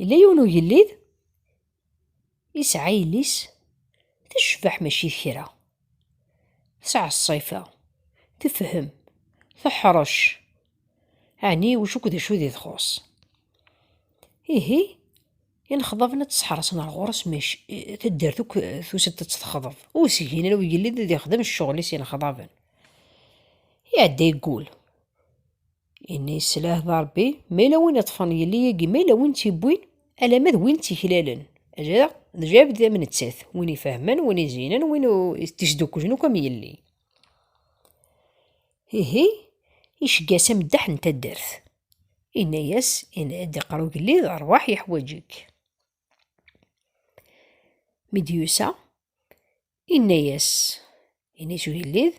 Yella yiwen ugellid yesɛa yelli-s tecbeḥ mačči d kra. Tesɛa ṣṣifa, tefhem, teḥṛec. Ɛni ulac akk d acu di txuṣ. Ihi inexḍaben ad tt-sḥerṣen ar ɣur-s mac taddart akk tusa-d ad tt-texḍeb. Ur s-gin ara ugellid ad ixdem cceɣl-is inexḍaben. Iɛedda yeggul. Ini slah d Ṛebbi, ma yella win iṭṭfen yelli agi ma yella win tt-iwwin, alamma d win tt-iklalen, ajaɣ d jabd am nettat, win ifehmen, win izinen, win tt-isdukklen akk am yelli. Ihi icegga-as ameddaḥ n taddart, inna-yas, Ini-d, iqqar ugellid, ṛwaḥ yeḥwaǧ-ik. Mi d-yusa, inna-yas, ini s ugellid,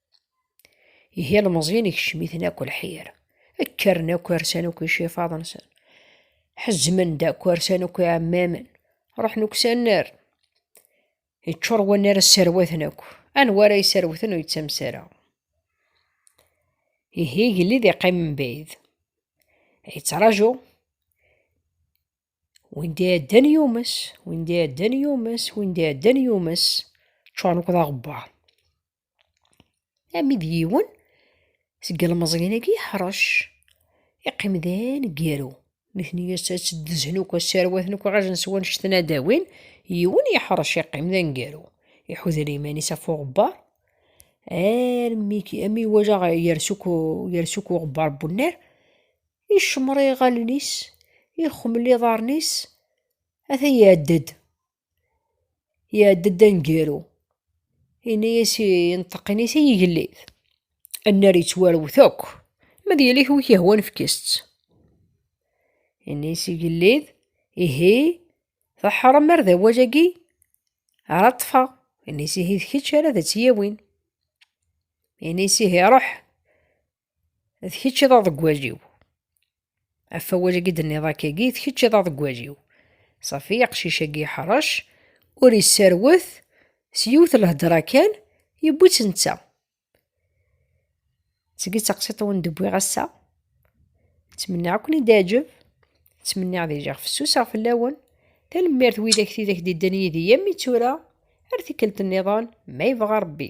Ihi ilmeẓyen ikcem-iten akk lḥir. Kkren akk arsan akk icifaḍ-nsen. Ḥezmen-d akk arsan akk iɛemmamen. Ruḥen akk s annar. Iččur wannar sserwaten akk. Anwa ara yesserwten ur yettames ara. Ihi igellid iqqim mebɛid. Yettraǧu. Win d iɛeddan yumes, win d iɛeddan yumes, win d iɛeddan yumes. Ččuren akk d aɣebbar. Ami d yiwen seg yelmeẓyen-agi yeḥṛec, iqqim d aneggaru. Nitni ad tt-ddzen akk, ad sserwaten akk iɣajen s wanect n ad d-awin, yiwen yeḥṛec iqqim d aneggaru. Iḥuder iman-is ɣef uɣebbar armi imi iwala yers akk yers akk uɣebbar n unnar, icemmeṛ iɣallen-is, ixemmel iḍaṛṛen-is, ata iɛedda-d. Iɛedda-d aneggaru, yenna-as i yenṭeqqen-is i yigellid, annar yettwarwet akk, ma d yelli-k wi k-yehwan fket-tt. Yenna-as igellid, ihi teḥṛem ar d awal-agi ara ṭṭfeɣ. Yenna-as ihi d kečč ara d tt-yawin. Yenna-as ihi ṛuḥ d kečč i d aḍeggwal-iw. Af awal-agi d-nniḍ akkagi, d kečč i d aḍeggwal-iw. Safi, aqcic-agi iḥṛec, ur isserwet, s yiwet n lhedṛa kan, yewwi-tt netta. Seg-i d taqsiṭ wen d-wwiɣ ass-a. Ttmenniɣ ad ken-id-iɛǧeb. Ttmenniɣ ad iliɣ fessuseɣ fell-awen. Tanemmirt widak tidak d-iddan yid-i am i tura, ar tikkelt-nniḍen, ma yebɣa Ṛebbi.